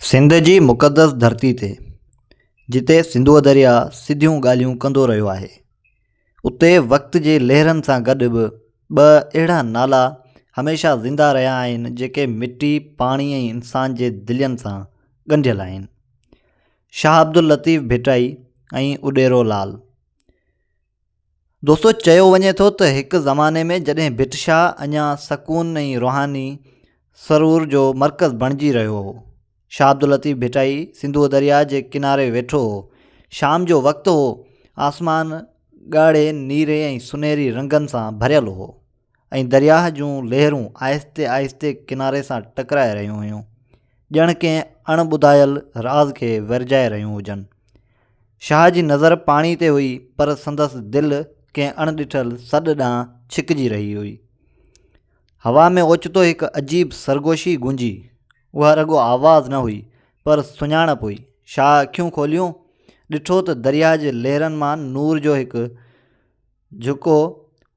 سنڌ جي مقدس ڌرتي تي جتي سنڌوء درياء سڌيون ڳالهيون ڪندو رهيو آهي اتي وقت جي لهرن سان گڏ به ٻه اهڙا نالا هميشه زنده رهيا آهن جيڪي مٽي پاڻي ۽ انسان جي دلين سان ڳنڍيل آهن شاهه عبداللطيف ڀٽائي ۽ اڏيرو لال دوستو چيو وڃي ٿو ته هڪ زماني ۾ جڏهن ڀٽ شاهه اڃا سڪون ۽ روحاني سرور جو مرڪز بڻجي رهيو هو شاهه عبداللطيف ڀٽائي سنڌو درياء جي ڪناري ويٺو هو شام جو وقت هو آسمان ڳاڙهي نيري ۽ سنهري رنگن سان ڀريل هو ۽ درياهه جون لهرون آهستي آهستي ڪناري سان ٽڪرائي رهيون هيون، ڄڻ ڪنهن اڻ ٻڌايل راز کي ورجائي رهيون هجن. شاهه جي نظر پاڻي تي هئي پر سندس دل ڪنهن اڻ ڏٺل سڏ ڏانهن ڇڪجي رهي هئي. هوا ۾ اوچتو هڪ عجيب سرگوشي گونجي. اها رڳو آواز نه هئي پر سڃاڻپ هئي. شاهه اکيون کوليون، ڏٺو ته درياهه جي لهرن مان نور جو هڪ جهڪو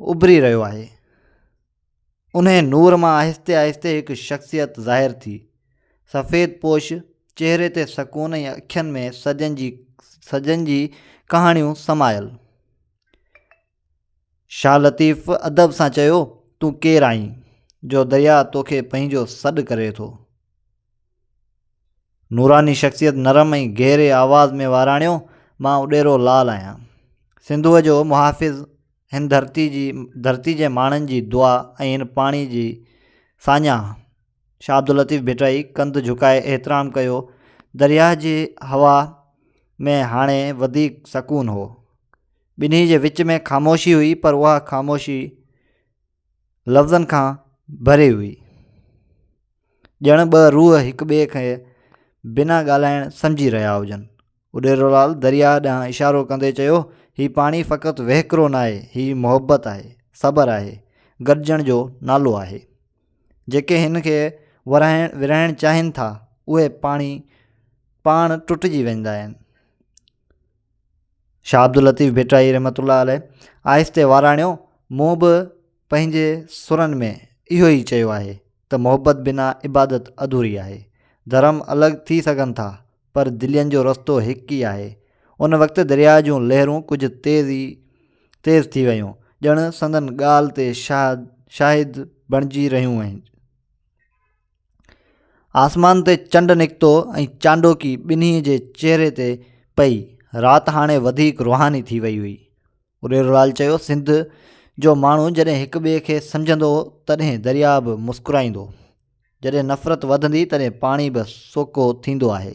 اڀري رهيو آهي. انهيء نور مان آهستي آهستي هڪ شخصيت ظاهر ٿي. سفيد پوش، چهري تي سڪون ۽ اکين ۾ سجن جي سجن جي ڪهاڻيون سمايل. شاهه لطيف ادب سان چيو، تون ڪير آهين، جو درياء توکي پنهنجو سڏ ڪري ٿو؟ نوراني شخصيت نرم ۽ گهري آواز ۾ واراڻيو مان اڏيرو لال آهيان سنڌوء جو محافظ هن ڌرتي جي ڌرتي جي ماڻهن جي دعا ۽ هن پاڻي جي ساڃاهه شاهه عبداللطيف ڀٽائي ڪنڌ جهڪائي احترام ڪيو درياهه جي هوا ۾ هاڻي وڌيڪ سڪون هو ٻنهي جي وچ ۾ خاموشي هئي پر اها خاموشي لفظن کان ڀري هئي ڄڻ ٻه روح هڪ ٻئي کي بنا ڳالهائڻ سمجهي رهيا هجن اڏيرولال درياء ڏانهن اشارو ڪندي چيو هي پاڻي فقط وهڪرو ناهي هي محبت آهي صبر آهي گڏجڻ جو نالو آهي جيڪي هن کي ورهائڻ ورهائڻ چاهين ٿا اهي پاڻي پاڻ ٽٽجي ويندا آهن شاهه عبداللطيف ڀٽائي رحمت الله عليه آهستي واراڻيو مون به پنهنجي سرن ۾ اهو ئي چيو آهي ته محبت بنا عبادت اڌوري آهي ڌرم الڳ ٿي سگهن ٿا پر دلين جو رستو هڪ ئي آهي ان وقت درياء جون لهرون ڪجهه تيز ئي تيز ٿي ويون ڄڻ سندن ڳالهه تي شاهد شاهد بڻجي رهيون آهن آسمان تي چنڊ نڪتو ۽ چانڊوڪي ٻنهي جي چهري تي پئي. رات هاڻي وڌيڪ روحاني ٿي وئي هئي. اريرولال چيو سنڌ جو ماڻهو جڏهن هڪ ٻئي کي سمجهندو تڏهن درياء به مسڪرائيندو. جڏهن نفرت وڌندي تڏهن پاڻي به سوڪو ٿيندو آهي.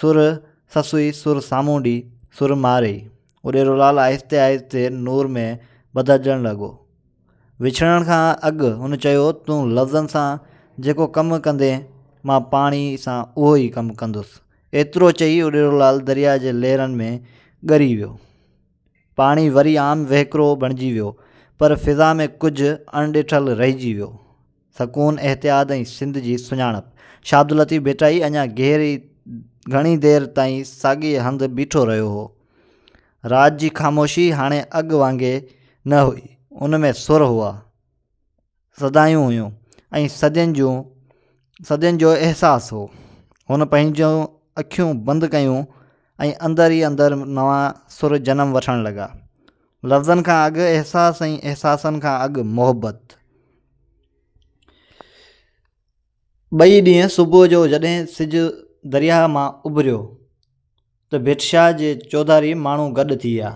سر سسئي سر سامونڊي سر مارئي اڏيرو لال آهستي آهستي نور ۾ بدلجڻ لڳو. وڇڙڻ کان اڳ هن چيو تون لفظن سان جيڪو ڪم ڪندين مان پاڻي سان اهو ئي ڪم ڪندس. ايترو چئي اڏيرو لال درياء جي لهرن ۾ ڳري ويو. پاڻي وري عام وهڪرو بڻجي ويو پر فضا ۾ ڪجهه اڻ ڏٺل رهجي ويو. سڪون، احتياط ۽ سنڌ جي سڃاڻپ. شاهه عبداللطيف ڀٽائي اڃا گهري گهڻي دير تائين ساڳيء هنڌ بيٺو رهيو هو. رات جي خاموشي هاڻي اڳ وانگي نه هئي. ان ۾ سر هئا، صدايون هيون ۽ صدين جون صدين جو احساس هو. هن پنهنجون اکيون بند ڪيون ۽ اندر ئي اندر نوان سر جنم وٺڻ لڳا. لفظن کان اڳ احساس ۽ احساسن کان اڳ محبت. ٻئي ڏينهن صبح جو جڏهن سج درياهه مان اڀريو ته ڀٽشاهه جي چوڌاري ماڻهو گڏ ٿي ويا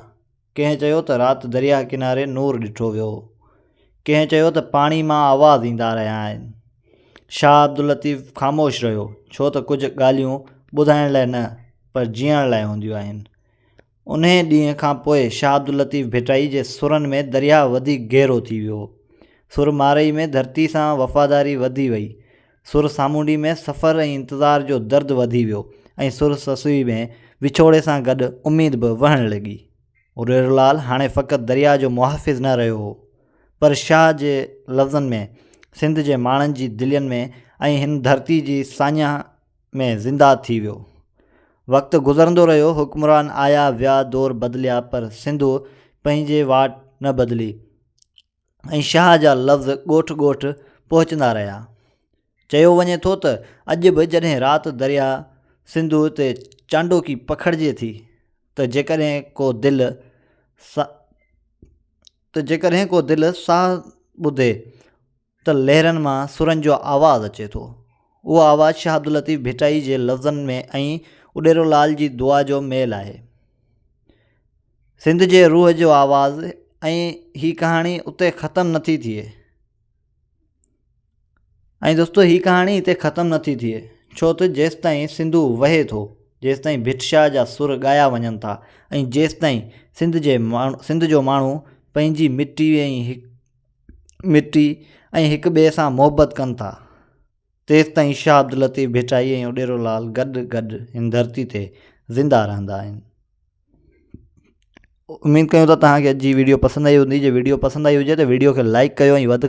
ڪنهن چيو ته رات درياهه ڪناري نور ڏٺو ويو ڪنهن چيو ته پاڻي مان آواز ايندا رهيا آهن شاهه عبداللطيف خاموش رهيو ڇو ته ڪجهه ڳالهيون ٻڌائڻ لاء نه پر جيئڻ لاء هونديون آهن انهيء ڏينهن کان پوء شاهه عبداللطيف ڀٽائي جي سرن ۾ درياهه وڌيڪ گهرو ٿي ويو. سر مارئي ۾ ڌرتي سان وفاداري وڌي وئي. سر سامونڊي ۾ سفر ۽ انتظار جو درد وڌي ويو ۽ سر سسئي ۾ وڇوڙي سان گڏ اميد به وهڻ لڳي. هريرولال هاڻي فقط درياهه جو محافظ نه رهيو هو، پر شاهه جي لفظن ۾ سنڌ جي ماڻهن جي دلين ۾ ۽ هن ڌرتي جي ساڃاهه ۾ زنده ٿي ويو. وقت گذرندو رهيو، حڪمران آيا ويا، دور بدليا پر سنڌو پنهنجي واٽ نه بدلي ۽ شاهه جا لفظ ڳوٺ ڳوٺ پهچندا رهيا. چيو وڃي ٿو ته اڄ به جڏهن رات درياء سنڌو تي چانڊوڪي پکڙجي ٿي ته جيڪڏهن ڪو دل سا ته جيڪڏهن ڪو دل ساهه ٻڌي ته لهرن مان سرن جو آواز اچي ٿو. اهو آواز شاهه عبداللطيف ڀٽائي جي لفظن ۾ ۽ اڏيرو لال جي دعا جو ميل آهي. سنڌ جي روح جو آواز ۽ هي ڪهاڻي اتي ختم نه ٿي ٿئي. ۽ دوستو هي ڪهاڻي هتي ختم نه ٿي ٿئي ڇو ته جيستائين سنڌو وهي ٿو جيستائين ڀٽ شاهه جا سر ڳايا وڃن ٿا ۽ جيستائين سنڌ جي ماڻهو سنڌ جو ماڻهو پنهنجي مٽي ۽ مٽي ۽ هڪ ٻئي سان محبت ڪن ٿا تيستائين شاهه عبداللطيف ڀٽائي ۽ اڏيرو لال گڏ گڏ هن ڌرتي تي زندهه رهندا آهن اميد ڪيون ٿا تهانکي اڄ جي وڊيو پسند آئي هوندي جي وڊيو پسند آئي هجي ته وڊيو کي لائڪ ڪيو ۽ وڌ کان